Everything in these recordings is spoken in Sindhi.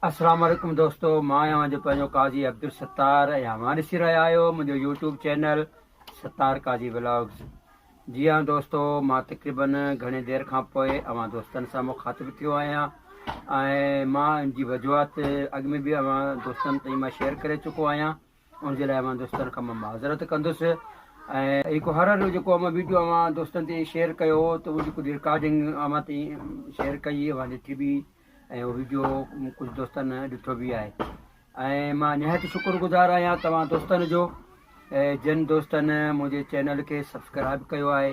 اسلام عليڪم دوستو مان آهيان جو پنهنجو قاضي عبدالستار ۽ اوهان ڏسي رهيا آهيو منهنجو YouTube channel Sattar Qazi vlogs جي ها دوستو مان تقريبن گهڻي دير کان پوء اوهان دوستن سان مخاطب ٿيو آهيان ۽ مان ان جي وجوهات اڳ ۾ به اوهان دوستن تائين مان شيئر ڪري چڪو آهيان ان جي لاء اوهان دوستن کان مان معذرت ڪندس ۽ هڪ هارر جو جيڪو اوهان ويڊيو اوهان دوستن تي شيئر ڪيو هو ته اهو جيڪو رڪارڊنگ اوهان تي شيئر ڪئي اوهان ڏٺي به ۽ اهو ويڊيو ڪجهه دوستن ڏٺو به آهي ۽ مان نهايت شڪر گذار آهيان توهان دوستن جو جن دوستن منهنجي چينل کي سبسڪرائب ڪيو آهي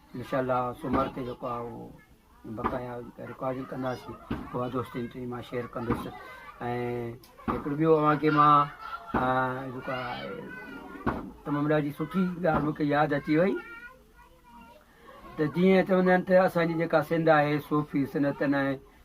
انشاء الله سومر تي جيڪو آهي اهو بقايا رڪارڊنگ ڪنداسي پوء دوستن تي مان شيئر ڪندس ۽ هڪڙو ٻيو اوهان کي مان جيڪو آهي تمام ڏاڍي سٺي ڳالهه مونکي ياد اچي وئي ته جيئن چوندا آهن ته اسانجي جيڪا سنڌ آهي صوفي سنتن ۽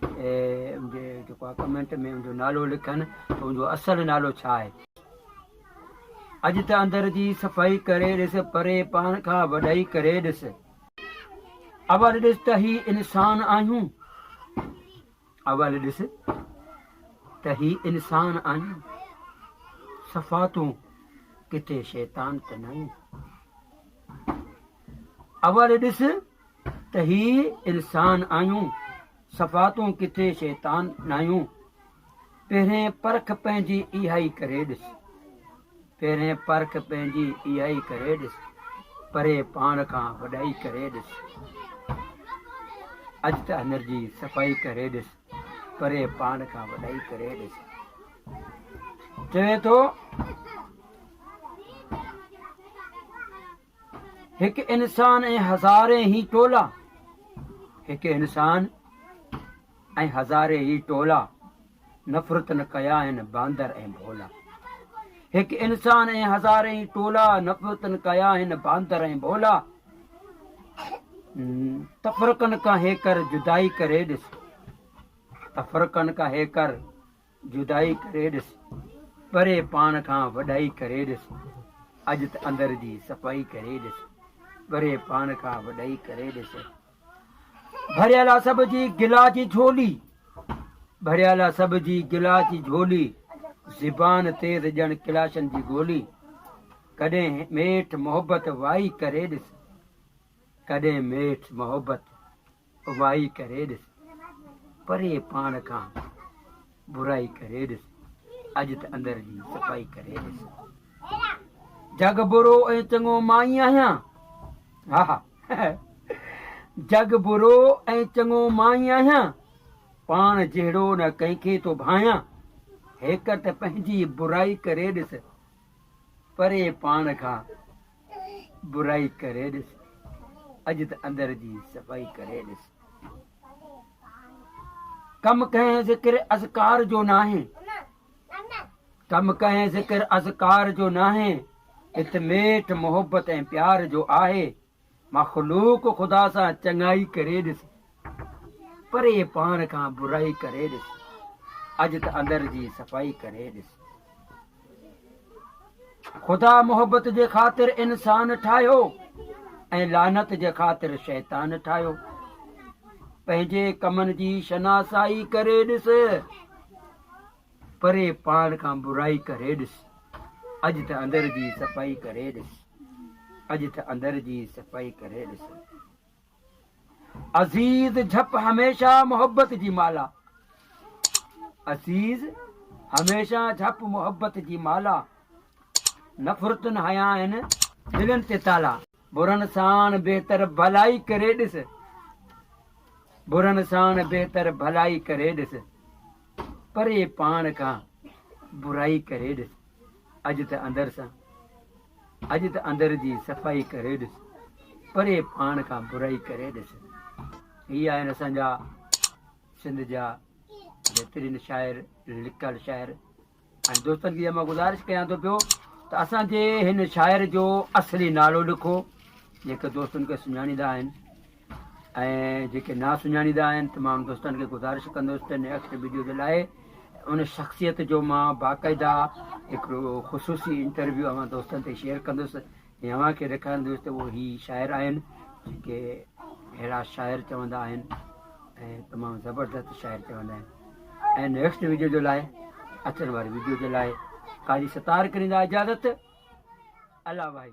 جي جيڪو آ ڪمينٽ ۾ منهنجو نالو لکن ته منهنجو اصل نالو ڇا آهي اڄ ته اندر جي صفائي ڪري ڏس پري پاڻ کان وڏائي ڪري ڏس اول ڏس ته هي انسان آهيون اول ڏس ته هي انسان آهيون صفا تون ڪٿي شيطان ته نه اول ڏس ته هي السان آهيون، صفا تون ڪٿي شيطان ناهيون. پهرين پرک پنهنجي اهائي ڪري ڏس. پهرين پرک پنهنجي اهائي ڪري ڏس. پري پاڻ کان وڏائي ڪري ڏس. اڄ ته اندر جي صفائي ڪري ڏس. پري پاڻ کان وڏائي ڪري ڏس. چوي ٿو هڪ انسان ۽ هزارين هي ٽولا هڪ انسان ۽ هزارين هي ٽولا نفرت نه ڪيا آهن باندر ۽ ڀولا هڪ انسان ۽ هزارين هي ٽولا نفرت نه ڪيا آهن باندر ۽ ڀولا تفرقن کان هيڪر جدائي ڪري ڏس تفرقن کان هيڪر جدائي ڪري ڏس، پري پاڻ کان وڏائي ڪري ڏس، اڄ ته اندر جي صفائي ڪري ڏس، پري پاڻ کان وڏائي ڪري ڏس. ڀريل آ سڀ جي گلا جي جھولي، ڀريل آ سڀ جي گلا جي جھولي، زبان تيز ڄڻ ڪلاشن جي گولي، ڪڏھن ميٺ محبت وائي ڪري ڏس، ڪڏھن ميٺ محبت وائي ڪري ڏس، پري پاڻ کان برائي ڪري ڏس، اڄ ته اندر جي صفائي ڪري ڏس. جڳ برو ۽ چڱو مان ئي آهيان، ها ها جڳ برو ۽ چڱو مان ئي آهيان، پاڻ جهڙو نه ڪنهن کي ٿو ڀانيان، هيڪر ته پنهنجي برائي ڪري ڏس، پري پاڻ کان برائي ڪري ڏس اڄ ته اندر جي صفائي ڪري ڏس ڪم ڪنهن ذڪر اذڪار جو ناهي ڪم ڪنهن ذڪر اذڪار جو ناهي هت ميٺ محبت ۽ پيار جو آهي مخلوق خدا سان چڱائي ڪري ڏس پري پاڻ کان برائي ڪري ڏس. اڄ ته اندر جي صفائي ڪري ڏس. خدا محبت جي خاطر انسان ٺاهيو ۽ لعنت جي خاطر شيطان ٺاهيو. پنهنجي ڪمن جي شناسائي ڪري ڏس. پري پاڻ کان برائي ڪري ڏس. اڄ ته اندر جي صفائي ڪري ڏس. اڄ ته اندر جي صفائي ڪري ڏس. عزيز جھپ هميشه محبت جي مالا عزيز هميشه جھپ محبت جي مالا نفرتن هنيا آهن دلن تي تالا برن سان بهتر ڀلائي ڪري ڏس برن سان بهتر ڀلائي ڪري ڏس پري پاڻ کان برائي ڪري ڏس اڄ ته اندر سان اڄ ته اندر جي صفائي ڪري ڏس. پري پاڻ کان برائي ڪري ڏس. هي آهن اسان جا سنڌ جا بهترين شاعر لکيل شاعر ۽ دوستن کي مان گذارش ڪيان ٿو پيو ته اسان جي هن شاعر جو اصلي نالو لکو جيڪي دوستن کي سڃاڻيندا آهن ۽ جيڪي نا سڃاڻيدا آهن تمام دوستن کي گذارش ڪندس ته نيڪسٽ ويڊيو جي لاء ان شخصيت جو مان باقاعده هڪڙو خصوصي انٽرويو اوهان دوستن تي شيئر ڪندس ۽ اوهان کي ڏيکارندس ته اهي شاعر آهن جيڪي اهڙا شاعر چوندا آهن ۽ تمام زبردست شاعر چوندا آهن ۽ نيڪسٽ ويڊيو جو لاء اچڻ واري ويڊيو جي لاء قاضي ستار ڪريندا اجازت الله بھائی